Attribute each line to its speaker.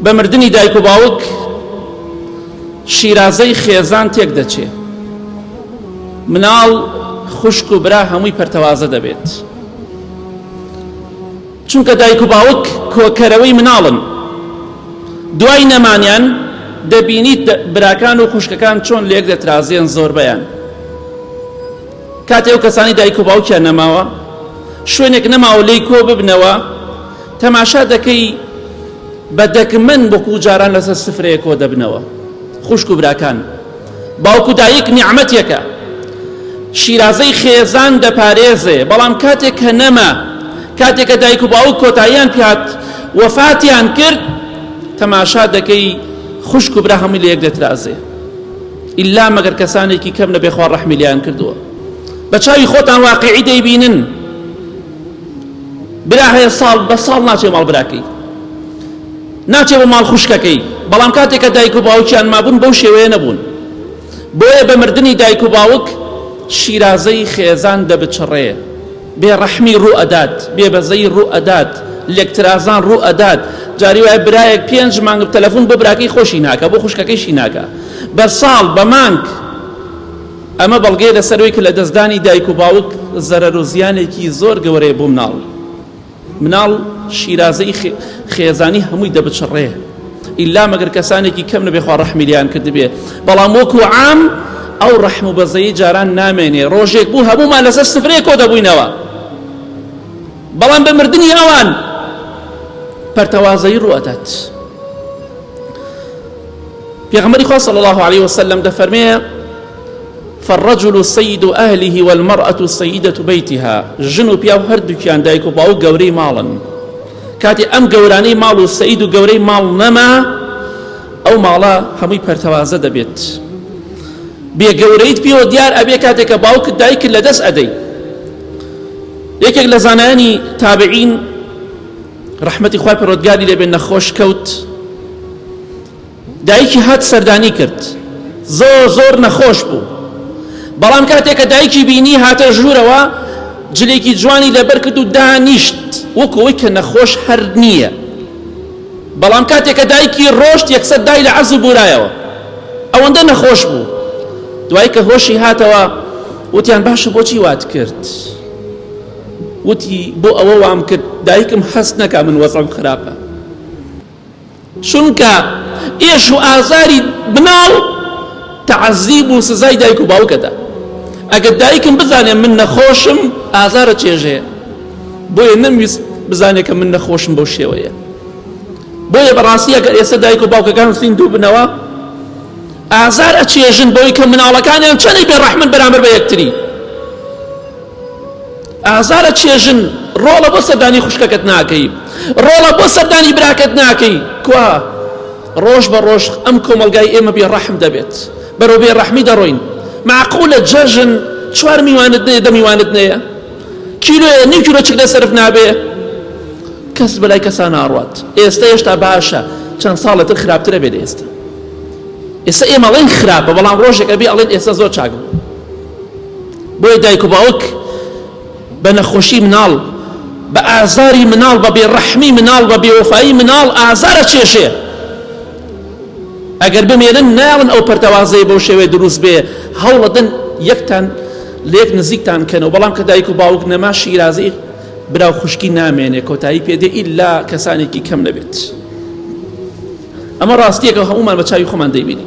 Speaker 1: بە مردنی دایک و باوک شیرازەی خێزان تێک دەچێ مناڵ خوشک و برا هەمووی پەرتەوازە دەبێت چونکە دایک و باوک کۆکەرەوەی مناڵن دوای نەمانیان دەبینیت براکان و خوشکەکان چۆن لێک دەترازێن زۆربیان کاتێ ئەو کەسانی دایک و باوکیان نەماوە شوێنێک نەماوە لی کۆ ببنەوە تەماشا دەکەی بە دەگمەن وەکو جاران لەسەر سفرەیە کۆ دەبنەوە خوشک و براکان باوکو دایک نیعممەتێکە شیرازەی خێزان دەپارێزێ بەڵام کاتێک کە نەما کاتێکە دایک و باوک کۆتاییان پات وەفاتیان کرد تەماشا دەکەی خوشک و برا هەمووی لە یەک دەترازێ ئللا مەگەر کەسانێکی کەم نەبێخوا ڕەحمیلیان کردووە بە چاوی خۆتان واقعی دەیبینن برا هەیە ساڵ بە ساڵ ناچێ ماڵ براکەی ناچێ بە ماڵ خوشکەکەی بەڵام کاتێکە دایک و باوکیان مابوون بەو شێوەیە نەبوون بۆیە بە مردنی دایک و باوک شیرازەی خێزان دەبچڕێ بێڕەحمی ڕوو ئەدات بێبەزەی ڕوو ئەدات لێکترازان ڕوو ئەدات جاری وایە برایەک پێنج مانگ تەلەفۆن بۆ براکەی خۆشی ناکە بۆ خوشکەکەیشی ناکە بە ساڵ بە مانگ ئەمە بەڵگەیە لەسەر ئەوەی کە لەدەستدانی دایک و باوک زەرەر و زیانێکی زۆر گەورەیە بۆ مناڵ. مناڵ شیرازەی خێزانی هەمووی دەبچڕێ ئیلا مەگەر کەسانێکی کەم نەبێ خوا ڕەحمی لیان کردبێ بەڵام وەکو عام ئەو ڕەحم و بەزەی جاران نامێنێ ڕۆژێک بوو هەموومان لەسەر سفرەیە کۆ دەبووینەوە بەڵام بە مردنی ئەوان پەرتەوازەی ڕوەدەت. پێغەمبەری خوا صلی الله علیه و سلم دەفەرمێ فالرجل سید اهله والمرأة سیدة بیتها ژن و پیاو هەردووکیان دایک و باوک گەورەی ماڵن کاتی ئەم گەورانەی ماڵ و سەید و گەورەی ماڵ نەما ئەو ماڵە هەمووی پەرتەوازە دەبێت بێگەورەیت پێوە دیار ئەبێ کاتێکە باوکت دایکت لەدەست ئەدەی یەکێک لە زانایانی تابعین ڕەحمەتی خوای پەروەردگاری لێبێ نەخۆش کەوت دایکی هات سەردانی کرد زۆر زۆر نەخۆش بوو بەڵام کاتێک کە دایکی بینی هاتە ژوورەوە جلێکی جوانی لەبەر کرد و دانیشت وەکەوەی کە نەخۆش هەر نییە بەڵام کاتێک کە دایکی ڕۆشت یەکسەر دای لە عەرز و بورایەوە ئەوەندە نەخۆش بوو دوای کە هۆشی هاتەوە وتیان باشە بۆچی وات کرد؟ وتی بۆ ئەوە وام کرد دایکم هەست نەکا من وەزم خراپە چونکە ئێش و ئازاری بناو تعذیب و سزای دایک و باوکەدا ئەگەر دایکم بزانێ من نەخۆشم ئازارە چێژەیە بۆیە نەمویست بزانێت کە من نەخۆشم بەو شێوەیە بۆیە بەڕاستی ئەگەر ئێستا دایک و باوکەکان سین دوو بنەوە ئازار ئەچێژن بۆی کە مناڵەکانیان چەنەی بێ ڕەحمن بەرامبەر بە یەکتری ئازارە چیە ژن ڕۆڵە بۆ سەردانی خوشکەکەت ناکەی ڕۆڵە بۆ سەردانی براکەت ناکەی کوا ڕۆژ بە ڕۆژ ئەم کۆمەلگای ئێمە بێ ڕەحم دەبێت بەرەو بێ ڕەحمی دەڕۆین معقولە جەژن چوار میوانت نەیە دە میوانت نەیە کیلۆیە نیو کیلۆ چک لەسەرف نابێ کەس بەلای کەسان ناڕات ئێستا هێشتا باشە چەند ساڵەتر خراپترە بێت ئێستا ئێستا ئێمەڵێن خراپە بەڵام ڕۆژێکە بێ ئەڵێن ئێستا زۆر چاکبوو بۆیە دایک و باوک بە نەخۆشی مناڵ بە ئازاری مناڵ بە بێڕەحمی مناڵ بە بێوەفایی مناڵ ئازارە چێشێ ئەگەر بمێنن ناون ئەو پەرتەوازەیە بەو شێوێ دروست بێ هەوڵەدن یەکتان لێک نزیکتان کەنەوە بەڵام کە دایک و باوک نەما شیرازی براو خوشکی نامێنێ کۆتایی پێدێ ئللا کەسانێکی کەم نەبێت ئەمە ڕاستیەکە هەمومان بە چاوی خۆمان دەیبینی